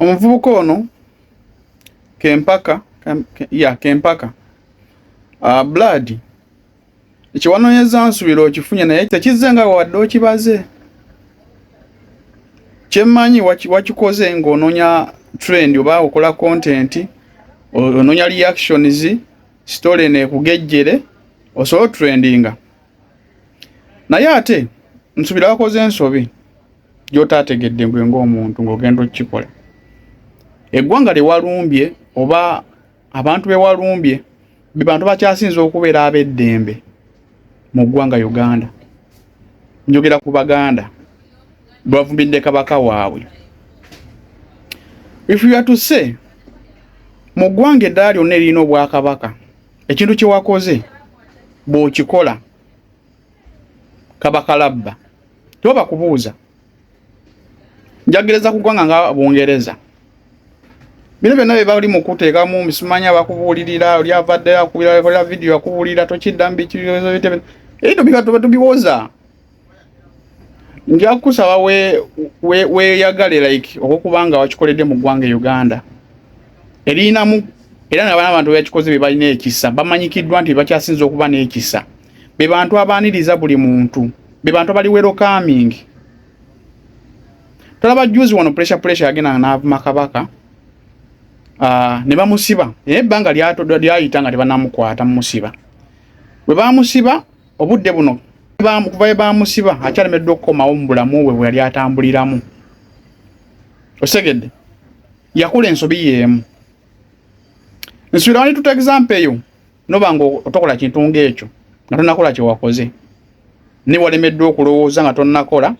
Omuvubuka ono Kempaka ya Kempaka uh, Blood ekiwanonyeza nsubira okifunye naye tekizze nga wadde okibaze kyemmanyi wakikoze ng'ononya trend oba okola content ononya reactions story nekugejjere osobola otrendinga naye ate nsubira wakoze ensobi gy'otaategedde gwe ng'omuntu ng'ogenda okukikola eggwanga lye walumbye oba abantu be walumbye be bantu bakyasinza okubeera ab'eddembe mu ggwanga uganda njogera ku baganda bwebavumbidde kabaka waabwe if you are to say mu ggwanga eddala lyonna eririna obwakabaka ekintu kye wakoze bw'okikola kaba kalabba toba kubuuza njagereza kugwanga nga bungereza bino byonna bye bali mu kuteekamu misimanya bakubuulirira oli avadde akubirakola vidiyo akubuulira tokiddamu bikibizo bitebe ebyo biba tuba tubiwoza nja kukusaba weyagale we, we like okukuba nga wakikoledde mu ggwanga e uganda eriyinamu era nabana abantu bakikoze bye balina ekisa bamanyikiddwa nti bakyasinza okuba n'ekisa be bantu abaaniriza buli muntu be bantu abali welcoming tolaba juzi wano pressure pressure yagenda n'avuma kabaka uh, ne bamusiba naye ebbanga lyayita nga tebanamukwata mumusiba bwe bamusiba obudde buno kuva bwe bamusiba akyalemeddwa okukomawo mu bulamu bwe bwe yali atambuliramu osegedde yakola ensobi yeemu nsubirawani tuta example eyo noba nga otokola kintu ngaekyo nga tonakola kyewakoze naye walemeddwa okulowooza nga tonakola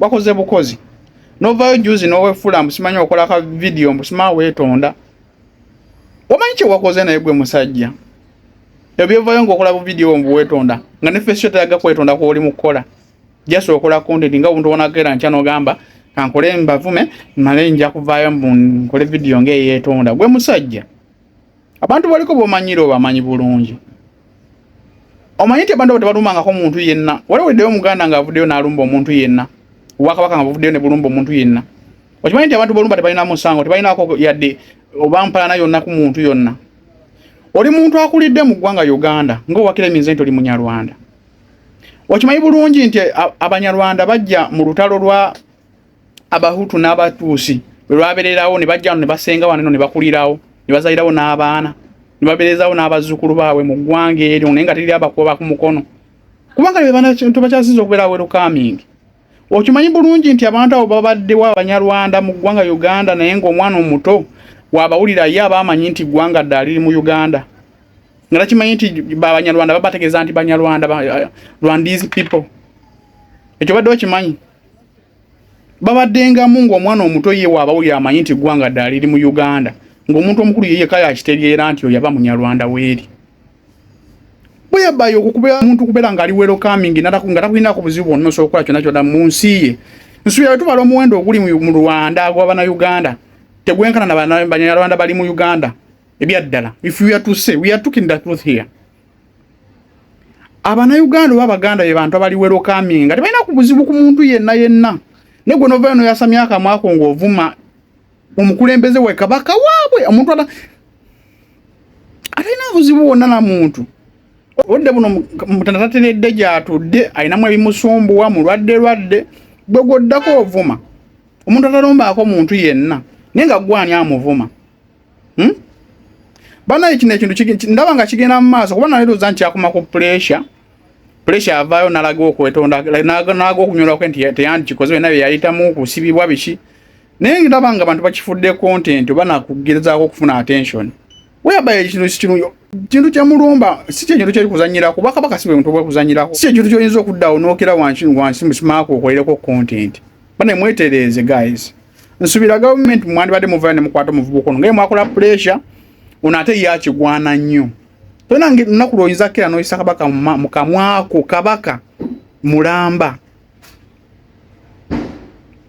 wakoze bukozi novayo juzi nowefula mbusimanyi okola ka vidiyo mbusima wetonda wamanyi kyewakoze naye gwe musajja ebyevayo ngaokola bu vidiyo mbuwetonda nga ne fesio teraga kwetonda kwoli mukukola jasi okola kontenti nga obuntu wonagera nkya nogamba kankole mbavume male nja kuvayo mbu nkole vidiyo ngaeyetonda gwe musajja abantu baliko bomanyira obamanyi bulungi omanyi nti abantu abo tebalumangako muntu yenna wali weddeyo omuganda nga avuddeyo n'alumba omuntu yenna obwakabaka nga buvuddeyo ne bulumba omuntu yenna okimanyi nti abantu bolumba tebalina musango tebalinako yadde obampalana yonna ku muntu yonna oli muntu akulidde mu ggwanga uganda ngaowakira eminze nti oli munyarwanda okimanyi bulungi nti abanyarwanda bajja mu lutalo lwa abahutu n'abatuusi bwe lwabererawo ne bajja wano ne basenga wano eno ne bakulirawo ne bazalirawo n'abaana ne baberezawo n'abazzukulu baabwe mu ggwanga eryo naye nga teriri abakuba ku mukono kubanga bebantu bakyasinza okubeera werukamingi okimanyi bulungi nti abantu abo babaddewo abanyarwanda mu ggwanga uganda naye ng'omwana omuto wabawulira ye aba amanyi nti ggwanga ddaali liri mu uganda nga takimanyi nti babanyarwanda babategeeza nti banyarwanda rwandese people ekyo badde okimanyi babaddengamu ng'omwana omuto ye waabawo yamanyi nti eggwanga ddala liri mu uganda ng'omuntu omukulu yeyeka yakitegeera nti oyo yaba munyarwanda weeri bweyabayo okukubeera omuntu kubeera ng'ali werokaming nga takulinako buzibu bwonna osobola okukola kyonna kyonna mu nsi ye nsuubira bwe tubala omuwendo oguli mu rwanda gwabana uganda tegwenkana nabanyarwanda bali mu uganda ebyaddala if we are to say we are talking the truth here abanauganda oba abaganda be bantu abali welokaminga tebalina ku buzibu ku muntu yenna yenna naye gwe novayo noyasamya akamwako ngaovuma omukulembeze we kabaka waabwe omuntu ata atalina buzibu wonna na muntu obudde buno mutanda tatenedde gyatudde alinamu ebimusumbuwa mulwadde lwadde gwe gwoddako ovuma omuntu atalombaako muntu yenna naye nga gwani amuvuma hmm? banaye kino ekintu ndaba nga kigenda mu maaso kuba naleroza nti akuma ku pressure pressure avaayo nalaga okwetonda nalaga okunyolwako nti teyandikikoze byona byeyayitamu kusibibwa biki naye ndaba nga bantu bakifudde content oba nakugerezaako okufuna attention weyabaye ekintu sikirungi kintu kyemulumba si kyekintu kyeri kuzanyira kuba kabaka si bwemuntu bwekuzanyirako si ekintu kyoyinza okuddawo nokera wansi wansi musimaako okolereko content bane mwetereeze guys nsubira government mwandibadde muvaayo ne mukwata omuvubuka ono ngaye mwakola pressure ono ate ye akigwana nnyo tolina lunaku lwoyinza kukira noyisa kabaka mu kamwako kabaka mulamba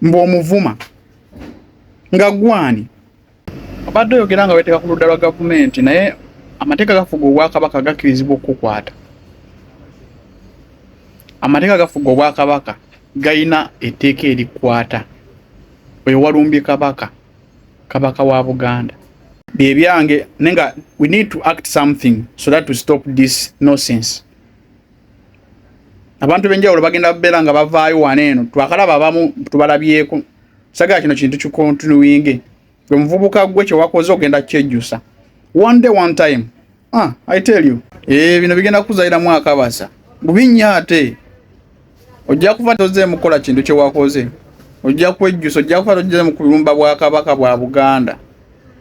mbu omuvuma nga gwani Obadde oyogera nga weteeka ku ludda lwa gavumenti naye amateeka gafuga obwakabaka gakkirizibwa okukukwata. Amateeka gafuga obwakabaka galina etteeka erikwata oyo walumbye kabaka kabaka wa Buganda. Bye byange naye nga we need to act something so that to stop this nonsense. Abantu benjawulo bagenda beera nga bavaayo wano eno twakalaba abamu tubalabyeko. sagala kino kintu kikontinuwinge gwe muvubuka gwe kyewakoze ogenda kyejjusa one day one time ah, i tell you e, bino bigenda kuzaliramu akabasa bubinya ate ojja kufa tozeemu kukola kintu kyewakoze ojja kwejjusa ojja kufa tozeemu kulumba bwakabaka bwa buganda